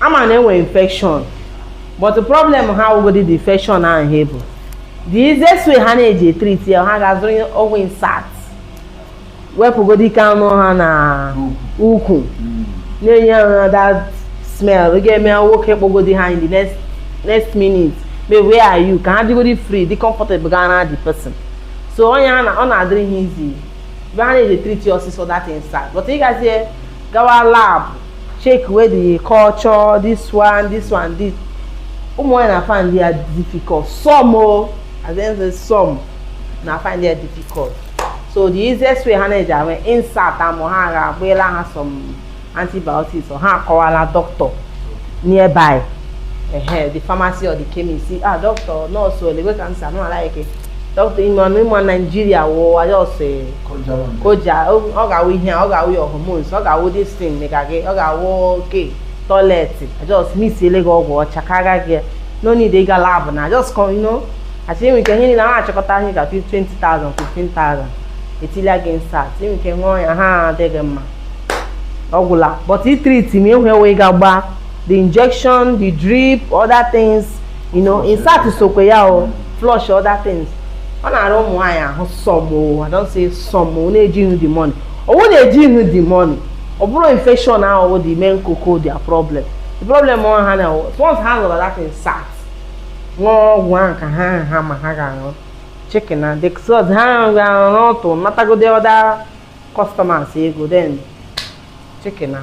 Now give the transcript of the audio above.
ama na enwere infection but the problem ha wụgodi the infection ahụ ha ebu the easiest way ha na-eji etriti ya ha ga-azụrụ ọgwụ insert wepụgodi nke a nọ ha na ukwu na-enye ha that smell ọ ga-eme nwoke kpọgodi ha in the next minute may where are you ka ha dịgodi free dị comfortable gaa na the person so onye a na ọ na-adịrị ha easy ebe ha na-eji etriti ọsịsọ that insert but ịgazie gawa lab check where the culture this one this one this ụmụ nwaanyị na-afind ya difficult some o oh, as in say some na-afind ya difficult so the easiest way ha na-eji wụ insert amụ ha ga agbaela ha some antibiotics or ha akọwala doctor nearby uh, the pharmacy or the chemist ah doctor nurse ole wey ka m sa no like it dọkịta ime ọnụ ị ma Nigeria wụwa ya ọsị o ji a- o- ọ ga-awụ ihe a, ọ ga-awụ your hormones ọ ga-awụ this thing mega gị ọ ga-awụ okay toilet a just mixiele gị ọgwụ ọcha karịa gị no need ịga lab now a just kọ ino achị enwe ike ihe niile ha achịkọta ihe ka 20,000 15,000 etila gị insert enwe ike ṅụọ ya ha adịghị mma ọgwụla but itrit m enwe wee ga gbaa the injection the drip other things you know insert sokwe ya o flush other things ọ na-arụ ụmụ nwaanyị ahụ some I don't say some na-eji ihu the money ọ wụ na-eji ihu the money ọ bụrụ infection ahụ the main koko their problem the problem wụ na once ha zụrụ that insert ṅụọ ọgwụ ahụ ka ha ha ma ha ga-aṅụ chikena that's all ha ga-aṅụ n'ụtụtụ natagodi other customers ego then chikena